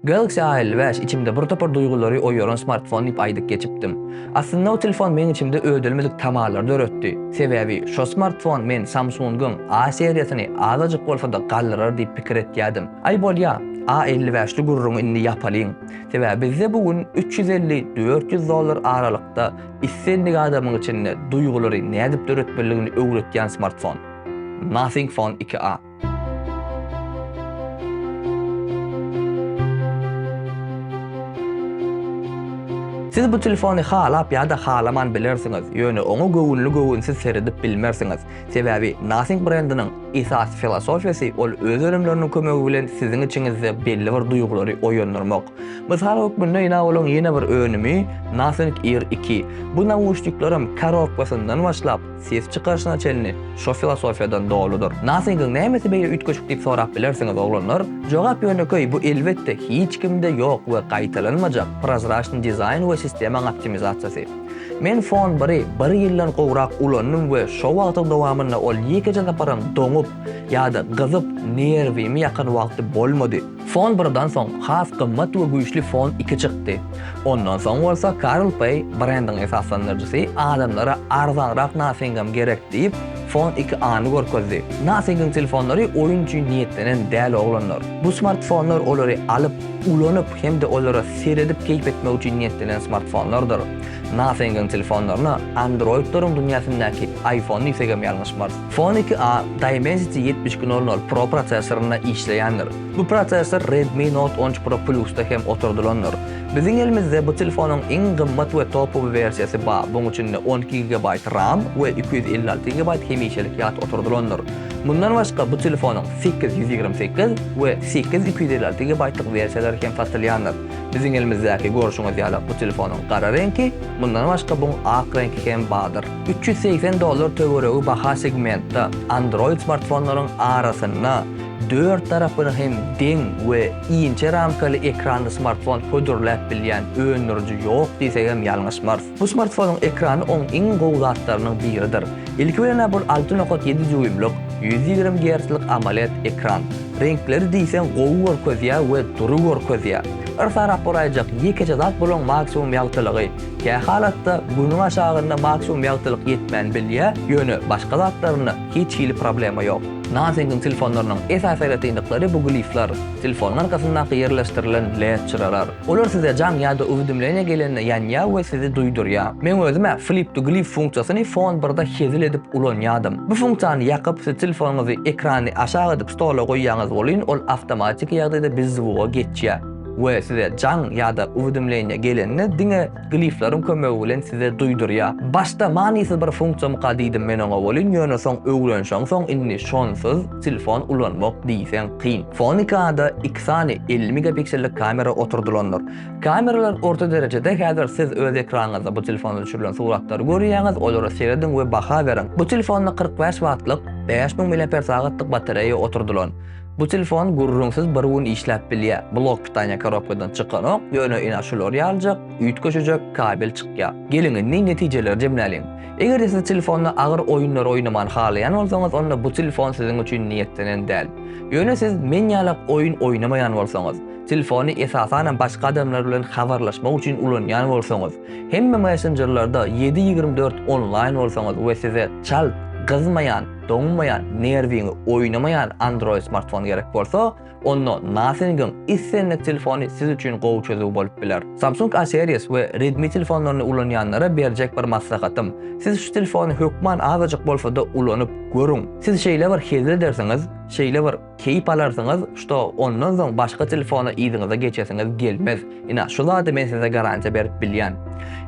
Galaxy A elli bäş içimde bir topar duýgulary oýaran smartfon diýip aýdyp geçipdim. Aslynda o telefon meň içimde ödelmedik tamalar döretdi. Sebäbi şo smartfon men Samsung-yň A seriýasyny azajyk bolsa-da galdyrar diýip pikir etýädim. Aý bolýa, A elli bäşli gürrüňi indi ýapalyň. Sebäbi bizde bu gün üç ýüz elli, dört ýüz dollar aralykda islendik adamyň içinde duýgulary nädip döretmelidigini öwretýän smartfon. Nothing Phone iki a. Siz bu telefony halap ýa-da halaman bilersiňiz, ýöne oňa göwünli-göwünsiz seredip bilmersiňiz. Sebäbi Nothing brendiniň esasy filosofiýasy ol öz önümleriniň kömegi bilen siziň içiňizde belli bir duýgulary oýandyrmak. Mysal hökmünde ýa olaň ýene bir önümi Nothing Ear iki. Bu nauşniklerim korobkasyndan başlap, Ses çykaryşyna çenli şo filosofiýadan doludyr. Nothing-yň nämesi beýle üýtgeşik diýip sorap bilersiňiz, oglanlar? Jogap ýönekeý, bu elbetde hiç kimde ýok we gaýtalanmajak prozraçny dizaýn we sistemaň optimizasiýasy. Men Phone bir-i bir ýyldan gowrak ulandym we şo wagtyň dowamynda ol ýekeje saparam doňup ýa-da gyzyp nerwimi ýakan wagty bolmady. Fon birden soň has gymmat we güýçli Fon iki çykdy. Ondan soň bolsa Karl Pei, brendiň esaslandyryjysy, adamlara arzanrak Nothingam gerek diýip, Fon iki A-ny görkezdi. Nothingiň telefonlary oýun üçin niýetlenen däl oglanlar. Bu smartfonlar olary alyp, ulanyp hem-de olara seredip keýp etmek üçin niýetlenen smartfonlardyr. Nothingiň telefonlaryna Androidleriň dünýäsindäki iPhone diýsegem ýalňyşmarys. Phone iki a Dimensity ýetmiş iki nol nol Pro prosessorynda işleýändir. Bu prosessor Redmi Note on üç Pro Plus-da hem oturdylandyr. Biziň elimizde bu telefonyň iň gymmat we topowy wersiýasy bar, buň içinde on iki gigabaýt ram we iki ýüz elli alty gigabaýt hemişelik ýat oturdylandyr. Mundan başga bu telefonyň sekiz ýüz ýigrimi sekiz we sekiz iki ýüz elli alty gigabaýtlyk wersiýalary hem satylýandyr. Biziň elimizdäki görşüňiz ýaly bu telefonyň gara reňki, mundan başga buň ak reňki hem bardyr. Üç ýüz segsen dollar töweregi baha segmentde Android smartfonlaryň arasynda dört tarapyna hem deň we inçe ramkaly ekranly smartfon hödürläp bilýän öndüriji ýok diýsegem ýalňyşmarys. Bu smartfonyň ekrany oň iň gowy zatlarynyň biridir. Ilki bilen-ä bul alty nokat ýedi dýuýmlyk, ýüz ýigrimi gertslik AMOLED ekran. Reňkleri diýseň gowy görkezýär we dury görkezýär. Bir sarap boraýjak ýekeje zat bulaň maksimum ýagtylygy. Kä halatda Günüň aşagynda maksimum ýagtylyk ýetmän bilýär, ýöne başga zatlarynda hiç hili problema ýok. Nothing-iň telefonlarynyň esasy aýratynlyklary bu glifler, telefonyň arkasyndaky ýerleşdirilen led çyralar. Olar size jaň ýa-da uwidimleniýa gelende ýanýar we sizi duýdurýar. Men özüm-ä Flip to Glif funksiýasyny Phone birde hezil edip ulanýardym. Bu funksiýany ýakyp, siz telefonyňyzy ekrany aşak edip stola goýýaňyz welin ol awtomatiki ýagdaýda bizzwuga geçýär. we size jaň ýa-da uwidemleniýe gelende diňe glifleriň kömegi bilen size duýdurýar. Başda manysyz bir funksiýamyka diýdim men oňa welin ýöne soň öwrenşeň soň indi şonsyz telefon ulanmak diýseň kyn. Fonikada iki sany elli megapiksellik kamera oturdylandyr. Kameralar orta derejede häzir siz öz ekranyňyzda bu telefonda düşürilen suratlary görýäňiz olara serediň we baha beriň. Bu telefonda kyrk bäş wattlyk, bäş müň miliamper sagatlyk batareýa oturdylan. Bu telefon gürrüňsiz bir gün işläp bilýär. Blok pitaniýa korobkadan çykanok, ýöne ina şular ýalyjak üýtgeşije kabel çykýar. Geliň indi netijeleri jemläliň. Eger-de siz telefonda agyr oýunlary oýnamany halaýan bolsaňyz, onda bu telefon siziň üçin niýetlenen däl. Ýöne siz men ýalak oýun oýnamaýan bolsaňyz, telefony esasanam başga adamlar bilen habarlaşmak üçin ulanýan bolsaňyz, hemme messenjerlerde ýedi ýigrimi dört onlaýn bolsaňyz we size çalt, gyzmaýan, Doňmaýan, nerwiňi oýnamaýan Android smartfon gerek bolsa, onda Nothing-iň islendik telefony siz üçin gowy çözüw bolup biler. Samsung A Series we Redmi telefonlaryny ulanýanlara berjek bir maslahatym, siz şu telefony hökman azajyk bolsa-da ulanyp görüň. Siz şeýle bir hezil edersiňiz, şeýle bir Keýp alarsyňyz, što ondan soň başga telefona yzyňyza geçesiňiz gelmez. Ina, şu zady men size garantiýa berip bilýän.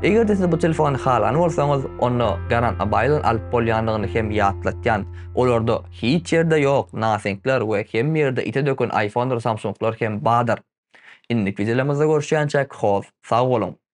Eger-de siz bu telefony halan bolsaňyz, onda Garan Abaýlan alyp bolýandygyny hem ýatlatýan. Olarda hiç ýerde ýok Nothingler we hemme ýerde ite döken iPhonedyr Samsunglar hem badyr. Indiki wideolarymyzda görüşýänçäk hoz, sag boluň!